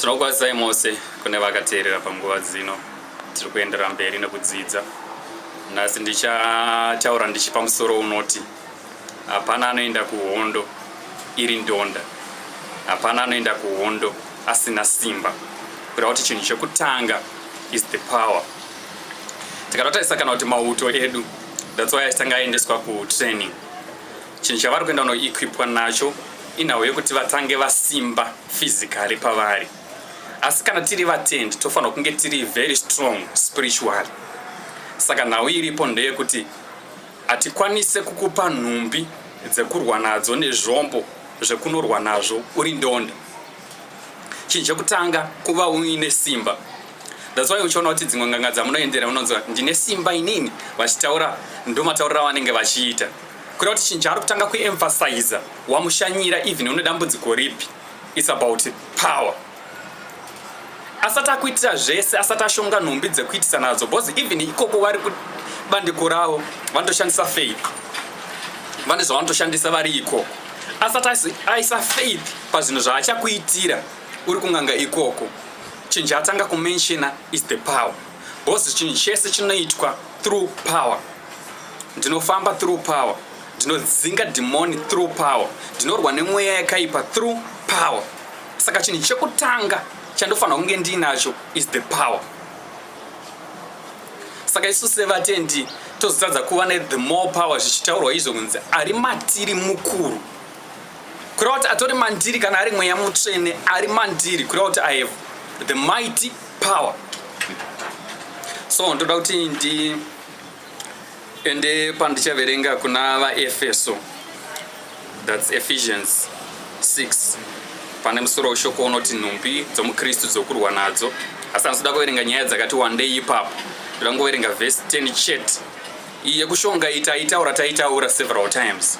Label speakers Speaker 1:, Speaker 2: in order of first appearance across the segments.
Speaker 1: Tinokuazai mose kune vakateerera panguva dzino. Tiri kuendera mberi nekudzidza. Nhasi ndichataura ndichipa musoro unoti hapana anoenda kuhondo iri ndonda. Hapana anoenda kuhondo asina simba. Kureva kuti chinhu chekutanga is the power. Tikatotarisa kana kuti mauto edu that's why achitanga aendeswa kutraining. Chinhu chavari kuenda kunoequipwa nacho inhau yekuti vatange vasimba physically pavari asi kana tiri vatendi tofanirwa kunge tiri very strong spiritually saka nhau iripo ndeyekuti hatikwanise kukupa nhumbi dzekurwa nadzo nezvombo zvekunorwa nazvo uri ndondo chinhu chekutanga kuva uine simba that's why uchiona kuti dzimwe nganga dzamunoendera unonzwa ndine simba inini vachitaura ndomataurira vanenge vachiita Kuda kuti chinhu chaari kutanga kuemphasiza wamushanyira even une dambudziko ripi its about power asati akuitira zvese asati ashonga nhumbi dzekuitisa nadzo because even ikoko vari kubandiko ravo vanotoshandisa faith vane zvavanotoshandisa vari ikoko asati aisa faith pazvinhu zvaachakuitira uri kunganga ikoko chinhu chaatanga kumenshina is the power Boss chinhu chese chinoitwa through power. Ndinofamba through power. Ndinodzinga demon through power. Ndinorwa nemweya yakaipa through power. Saka chinhu chekutanga chandofanira kunge ndiinacho is the power. Saka isu sevatendi tozotadza kuva ne the more power zvichitaurwa izvo kunzi ari matiri mukuru kureva kuti atori mandiri kana ari mweya mutsvene ari mandiri kureva kuti i have the mighty power so ndoda kuti ndi ende pandichaverenga kuna vaefeso thats ephesians 6 pane musoro weshoko unoti nhumbi dzomukristu dzokurwa nadzo asi andizoda kuverenga nyaya dzakati wandei ipapo ndoda kungoverenga vhesi 10 chete iye kushonga itaitaura taitaura several times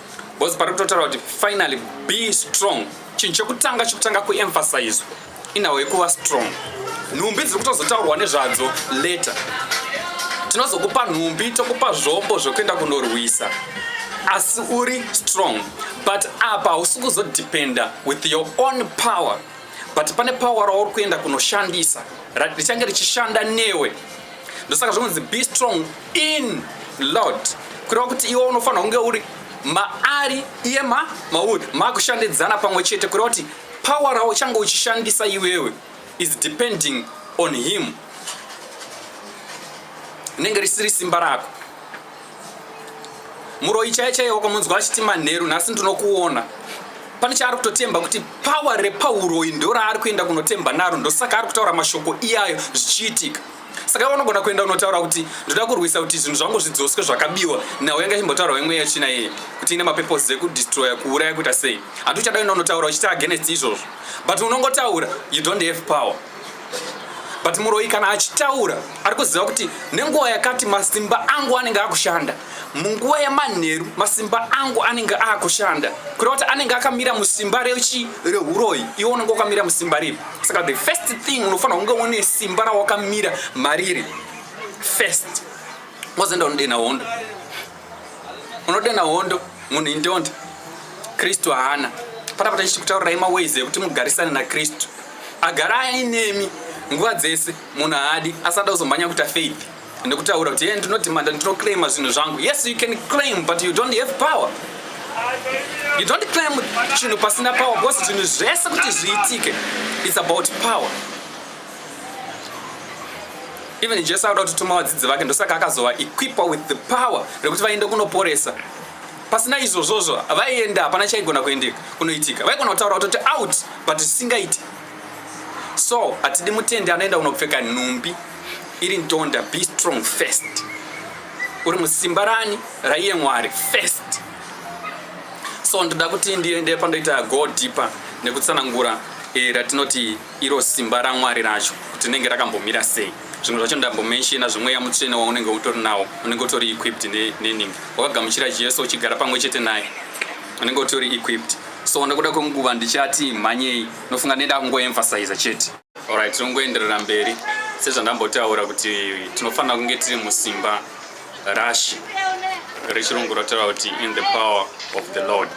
Speaker 1: Boss pari kutotaura kuti finally be strong. Chinhu chekutanga chekutanga kuemphasizwa inhawo yekuva strong. Nhumbi dziri kutozotaurwa nezvadzo later. Tinozokupa nhumbi tokupa zvombo zvekuenda kunorwisa asi uri strong but apa hausi kuzodependa with your own power but pane power rauri kuenda kunoshandisa richange richishanda newe ndosaka zvinonzi be strong in lord kureva kuti iwe unofanira kunge uri maari iye ma mauri makushandidzana pamwe chete kureva kuti power rauchange uchishandisa iwewe is depending on him rinenge risiri simba rako muroyi chaiye chaiye wakamunzwa achiti manheru nhasi ndinokuona pane chaari kutotemba kuti pawa repauroyi ndo raari kuenda kunotemba naro ndosaka ari kutaura mashoko iyayo zvichiitika saka vanogona kuenda unotaura kuti ndoda kurwisa kuti zvinhu zvangu zvidzoswe zvakabiwa nhau yanga chimbotaura wemwe yachina iye kuti ine mapepos ekudestroya kuuraya kuita sei handi uchada enda unotaura uchiti agenest izvozvo but unongotaura you don't have power but muroyi kana achitaura ari kuziva kuti nenguva yakati masimba angu anenge akushanda munguva yemanheru masimba angu anenge akushanda kureva kuti anenge akamira musimba rechi reuroyi iwe unenge wakamira musimba riri saka the first thing unofanira kunge une simba rawakamira mariri first mozoenda unodena hondo unodana hondo munhu indonda kristu haana panapa tachikutaurirai maways ekuti mugarisane nakristu agara ainemi nguva dzese munhu haadi asada kuzomhanya kuita faith nekutaura kuti ye ndinodhimanda ndinoclaima zvinhu zvangu yes you can claim but you don't have power you don't claim chinhu pasina power because zvinhu zvese kuti zviitike its about power even jesu akuda kutituma vadzidzi vake ndosaka akazova equipa with the power rekuti vaende kunoporesa pasina izvozvozvo vaienda hapana chaigona kuendeka kunoitika vaigona kutaura kutoti out but zvisingaiti so hatidi mutendi anoenda kunopfeka nhumbi iri ndonda be strong first uri musimba rani raiye mwari first so ndoda kuti ndiende pandoita go deeper nekutsanangura eh, ratinoti iro simba ramwari racho kuti rinenge rakambomira sei zvimwe zvacho ndambomenshina zvemweya mutsvene waunenge utori nawo unenge utori equipped neningi wakagamuchira jesu uchigara pamwe chete naye unenge utori equipped so nekuda kwenguva ndichati mhanyei nofunga neda kungoemphasiza chete orit tinongoenderera mberi sezvandambotaura kuti tinofanira kunge tiri musimba Rashi rechirungu rotaura kuti in the power of the Lord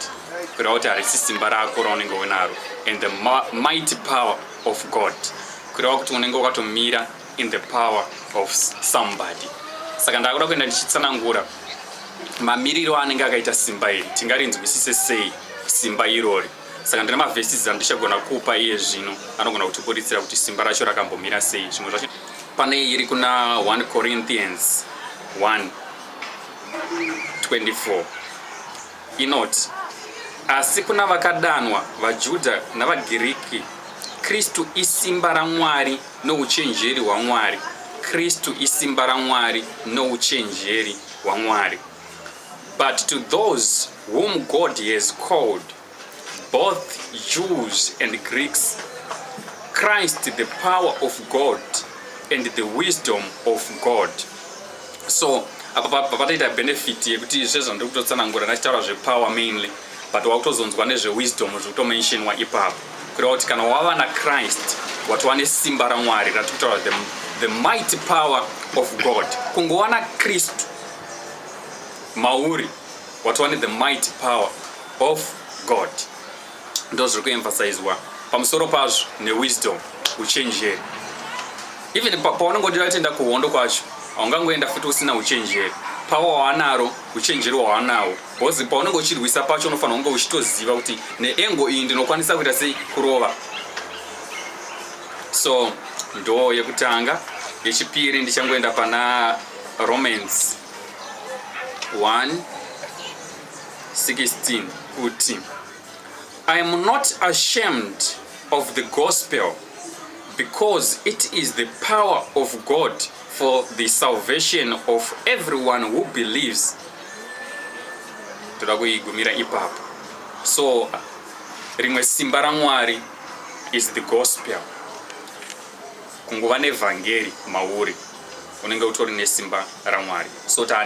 Speaker 1: kureva kuti harisi simba rako raunenge unaro and the mighty power of God kureva kuti unenge wakatomira in the power of somebody saka ndakuda kuenda ndichitsanangura mamiriro anenge akaita simba iri tingarinzwisise sei simba irori saka ndine mavhesisi andichagona kupa iye zvino anogona kutiburitsira kuti simba racho rakambomira sei zvimwe zvacho Pane iri kuna 1 Corinthians 1:24 inoti asi kuna vakadanwa vaJudha navaGiriki Kristu isimba raMwari nouchenjeri hwaMwari Kristu isimba raMwari nouchenjeri hwaMwari but to those whom God has called both Jews and Greeks, Christ the power of God and the wisdom of God. So apa pataita benefit yekuti izve zvandiri kutotsanangura ndachitaura zvepower mainly but wakutozonzwa nezvewisdom zviri kutomentionwa ipapo kureva kuti kana wava nachrist watova nesimba ramwari ratiri kutaura the, the mighty power of god kungowana kristu mauri watova nethe mighty power of God ndozviri kuemphasizwa pamusoro pazvo newisdom uchenjeri even paunenge udira kutenda kuhondo kwacho haungangoenda futi usina uchenjeri pawa waanaro uchenjeri waanawo bcause paunenge uchirwisa pacho unofanira kunge uchitoziva kuti neengo iyi ndinokwanisa kuita sei kurova so ndo yekutanga yechipiri ndichangoenda pana romans 1 16 kuti I am not ashamed of the gospel because it is the power of God for the salvation of everyone who believes toda kuigumira ipapo so rimwe simba ramwari is the gospel kungova nevhangeri mauri unenge utori nesimba ramwari so taane